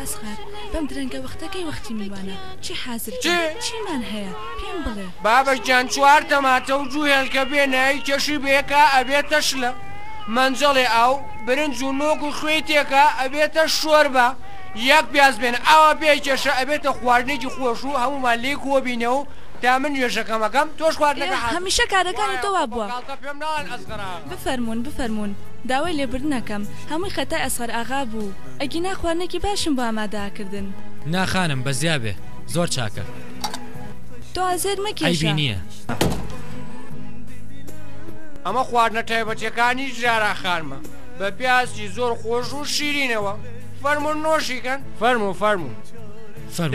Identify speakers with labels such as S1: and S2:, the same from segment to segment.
S1: ئەسغەر، بەم درەنگە وەختە کەی وەختی میوانە؟ چی حازر بێ؟ چی؟ چیمان هەیە؟ پێم بڵێ. بابەش گیان چوار تەماتە و دوو هێلکە بێ نەی کێشی بەیەکا ئەبێتە شلە، مەنجەڵێ ئاو، برنج و نۆک و خوێی تێکا ئەبێتە شۆربا، یەک پیاز بێن ئاوا پێی کێشە ئەبێتە خواردنێکی خۆش و هەموومان لێی کۆ بینە و تا من نوێژەکەم ئەکەم تۆش خواردنەکە حازر بکە. ئێ هەمیشە کارەکانی تۆ وا بووە. فەرموون بفەرموون داوای لێبوردن ئەکەم هەمووی خەتای ئەسغەر ئاغا بوو ئەگینا خواردنێکی باشم بۆ ئامادە ئەکردن. نا خانم بە زیا بێ زۆر چاکە. تۆ ئازێر مەکێشە. عەیبی نییە. ئەمە خواردنە تایبەتیەکانی زارا خانمە بە پیازی زۆر خۆش و شیرینەوە فەرمو نۆشیکەن فەرمو فەرمو فەرمو.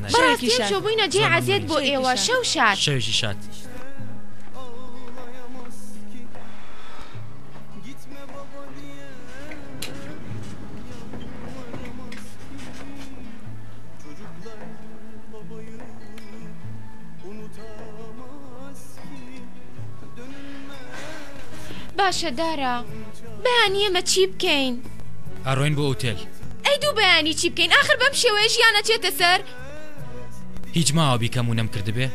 S1: بەڕاستی ئەم شۆ بووینە جێی عەزێت بۆ ئێوە شەو شاد. باشە دارا بەیانی ئێمە چی بکەین؟ ئەڕۆین بۆ ئوتێل. ئەی دوو بەیانی چی بکەین ئاخر بەم شێوەیە ژیان ئەچێتە سەر. هیچ ماوە بیکەم و نەمکردبێ؟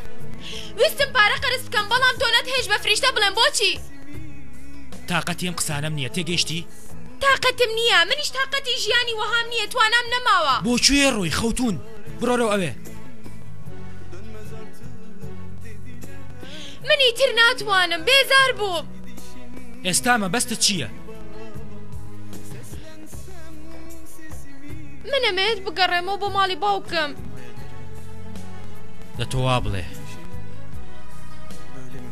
S1: ویستم پارە قەرز بکەم بەڵام تۆ نەت هێشت بە فریشتە بڵێم بۆچی؟ تاقەتی ئەم قسانەم نییە تێگەیشتی؟ تاقەتم نییە منیش تاقەتی ژیانی وەهام نییە توانام نەماوە. بۆ کوێ ڕۆی خەوتوون بڕۆ لەو ئەوێ. من ئیتر ناتوانم بێزار بووم. ئێستا مەبەستت چییە؟ من ئەمەوێت بگەڕێمەوە بۆ ماڵی باوکم. دە تۆ وا بڵێ.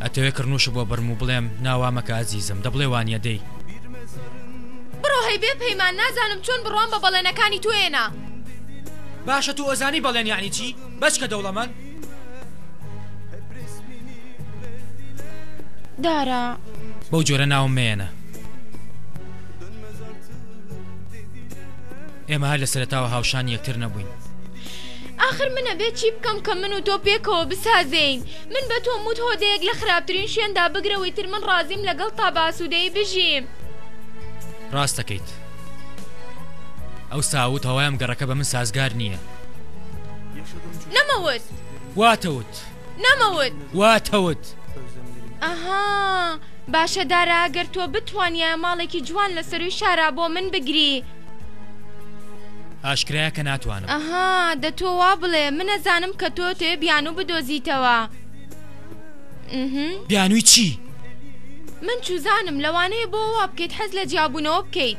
S1: ئەتەوێ کڕنووشە بۆ بڕم و بڵێم ناوامەکە ئازیزم دە بڵێ وانە دەی. بڕۆ هەی بێ پەیمان نازانم چۆن بڕوام بە بەڵێنەکانی تۆێنا. باشە تو ئەزانی بەڵێن یانی چی؟ بەچکە دەوڵەمەند. دارا. بەو جۆرە ناوم مەیەنە. ئێمە هەر لە سەرەتاوە هاوشانی یەکتر نەبووین. ئاخر من ئەبێ چی بکەم کە من و تۆ پێکەوە بسازێین من بە تۆم وت هۆدەیەک لە خراپترین شوێندا بگرەوەی تر من ڕازیم لەگەڵ تا باسوودەی بژیم ڕاستەکەیت ئەو ساوت هەوایم گەڕەکە بە من سازگار نییە نەمەوت واتەوت نەمەوت واتەوت ئەها باشە دارا گەر تۆ بتوانیە ماڵێکی جوان لە سەروی شارا بۆ من بگری ئاشکرایە کە ناتوانم ئەها دە تۆ وا بڵێ منەزانم کە تۆ تێ بیان و بدۆزیتەوە بیانووی چی؟ من چوزانم لەوانەیە بۆ وا بکەیت حەز لە جیابوونەوە بکەیت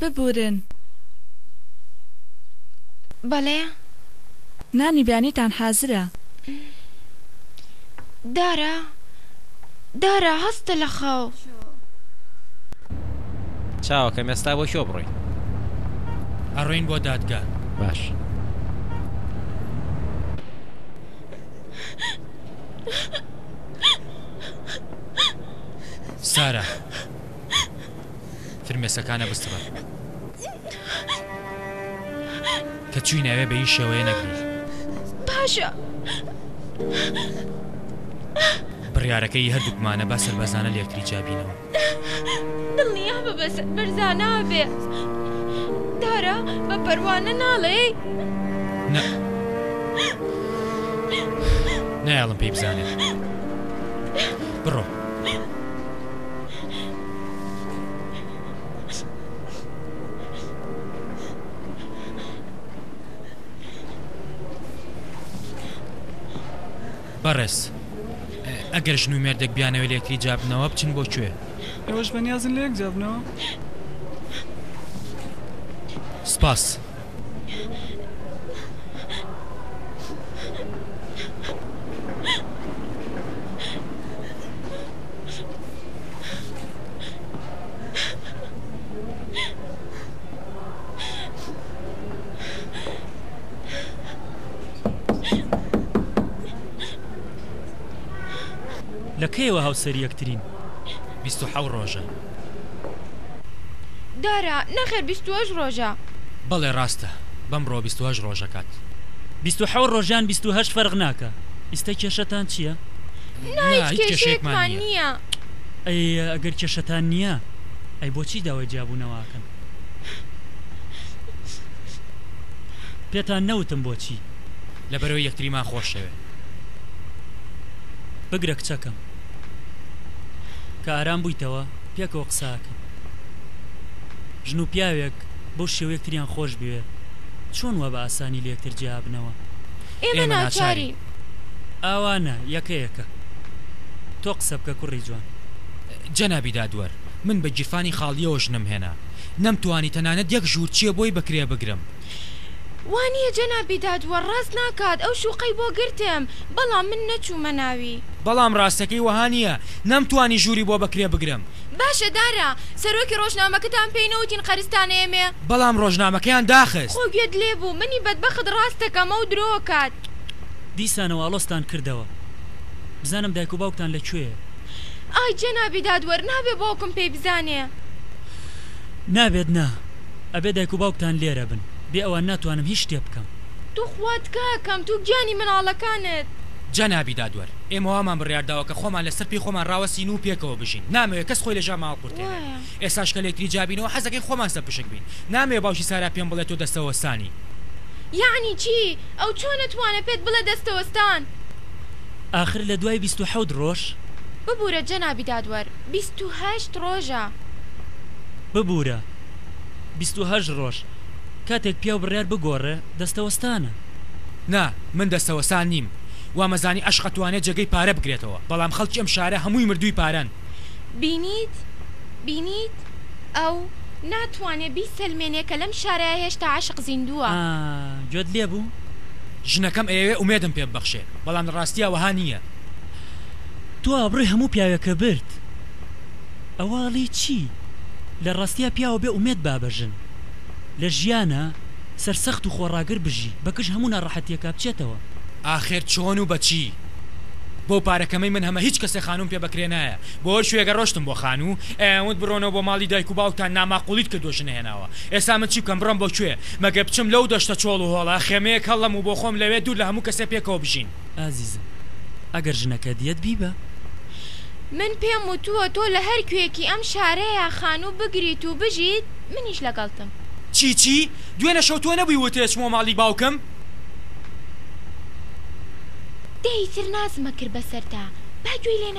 S1: ببورن. بەڵێ. نانی بەیانیتان حازرە. دارا. دارا هەستە لە خەو. چاوەکەم ئێستا بۆ کوێ بڕۆین. ئەڕۆین بۆ دادگا. باش. سارا. فرمێسکەکانە بسڕە. کە چووی ناوێ بە هیچ شێوەیە نەگری. پاشا. بڕیارەکە ی هەردووکمانە با سەربەرزانە لێکتری جیا بینەوە. دڵنیا بە بە سەربەرزانە ئەبێ. دارا بە پەروانە ناڵێی؟ نە. نایەڵم پێی بزانێ. بڕۆ. بەڕێز ئەگەر ژن و مێردێک بیانەوێت لە یەکتری جیاببنەوە بچن بۆ کوێ؟ ئێوەش بەنیازن لە یەک جیاببنەوە؟ سپاس. لە کەیەوە هاوسەری یەکترین؟ بیست و حەوت ڕۆژە. دارا، نەخێر بیست و هەشت ڕۆژە. بەڵێ ڕاستە بەمڕۆ بیست و هەشت ڕۆژەکات. بیست و حەوت ڕۆژ یان بیست و هەشت فەرق ناکا ئیستە کێشەتان چیە؟ نا هیچ کێشەیەکمان نیە. ئەی ئەگەر کێشەتان نیە ئەی بۆچی داوای جیابوونەوە ئەکەن؟ پێتان نەوتم بۆچی؟ لەبەرەوەی یەکتریمان خۆشەوێ بگرە کچەکەم. کە ئارام بوویتەوە پێکەوە قسە ئەکەن ژن و پیاوێک بەو شێوە یەکتریان خۆش بوێ چۆن وا بە ئاسانی لە یەکتر جیا ئەبنەوە؟ ئێمە ناچارین. ئاوا نا یەکە یەکە. تۆ قسە بکە کوڕی جوان. جەنابی دادوەر من بە گیرفانی خاڵیەوە ژنم هێنا نەمتوانی تەنانەت یەک ژوور چێ بۆی بە کرێ بگرم. وانیە جەنابی دادوەر ڕاست ناکات ئەو شوقەی بۆ گرتم بەڵام من نەچومە ناوی. بەڵام ڕاستەکەی وەها نیە نەمتوانی ژوری بۆ بەکرێ بگرم. باشە دارا سەرۆکی ڕۆژنامەکەتان پێی نەوتین قەرزتان ئێمێ. بەڵام ڕۆژنامەکەیان داخست. خۆ گوێت لێ بوو منی بەدبەخت ڕاست دەکەم ئەو درۆ ئەکات. دیسانەوە ئاڵۆزتان کردەوە. بزانم دایک و باوکتان لە کوێیە. ئای جەنابی دادوەر نابێ باوکم پێی بزانێ. نابێت نا. ئەبێ دایک و باوکتان لێرە بن. بێ ئەوان ناتوانم هیچ شتێ بکەم. توخوا تکایە کەم تو گیانی مناڵەکانت. جەنابی دادوەر، ئێمە وامان بڕیار داوە کە خۆمان لەسەر پێی خۆمان ڕاوەستین و پێکەوە بژین. نامەوێ کەس خۆی لە ژیانمان هەڵقورتێنێ. ئێستاش کە لێکتری جیابینەوە حەز دەکەین خۆمان سەرپشک بین. نامەوێ باوکی سارا پێم بڵێ تۆ دەستەوەستانی. یەعنی چی؟ ئەو چۆن ئەتوانێ پێت بڵێ دەستەوەستان؟ ئاخر لە دوای بیست و حەوت ڕۆژ؟ ببورە جەنابی دادوەر، بیست. تو هەشت ڕۆژە. ببورە بیست و هەشت ڕۆژ. کاتێک پیاو بڕیار بگۆڕێ دەستەوەستانە. نا من دەستەوەستان نیم وامەزانی عەشق ئەتوانێ جێگەی پارە بگرێتەوە بەڵام خەڵکی ئەم شارە هەمووی مردووی پارەن. بینیت بینیت ئەو ناتوانێ بیسەلمێنێ کە لەم شارە هێشتا عەشق زیندووە. ئا گوێت لێ بوو. ژنەکەم ئەیەوێ ئومێدم پێ ببەخشێ بەڵام لە ڕاستیا وەها نییە. تۆ ئابڕوی هەموو پیاوێکە برد ئەوە ئەڵی چی لە ڕاستیا پیاوە بێ ئومێد با بە ژن لە ژیانە سەر سەخت و خۆڕاگر بژی بە کش هەموو ناڕەحەتیەکا بچێتەوە. ئاخر چۆن و بەچی؟ بەو پارە کەمەی من هەمە هیچ کەسێ خانووم پێ بەکرێ نایە بۆی شوێگە ڕۆشتم بۆ خانوو ئەیان وت بڕۆنەوە بۆ ماڵی دایک و باوکتان ناماقوڵیت کردوە ژنە هێناوە ئێسا من چی بکەم بڕۆم بۆ کوێ مەگەر بچم لەو دەشتە چۆڵ و هۆڵە خێمەیەک هەڵڵەم و بۆخۆم لەوێ دوور لە هەموو کەسێ پێکەوە بژین ئازیزم ئەگەر ژنەکەت یەت بیبە. من پێم وتووە تۆ لە هەر کوێیەکی ئەم شارەیا خانوو بگریت و بژیت منیش لەگەڵتم. چی چی؟ دوێنە شەو تۆ نەبووی وتت ئەچمەوە ماڵی باوکم؟ دە ئیتر نازمە کرد بەسەرتا با گوێی لێ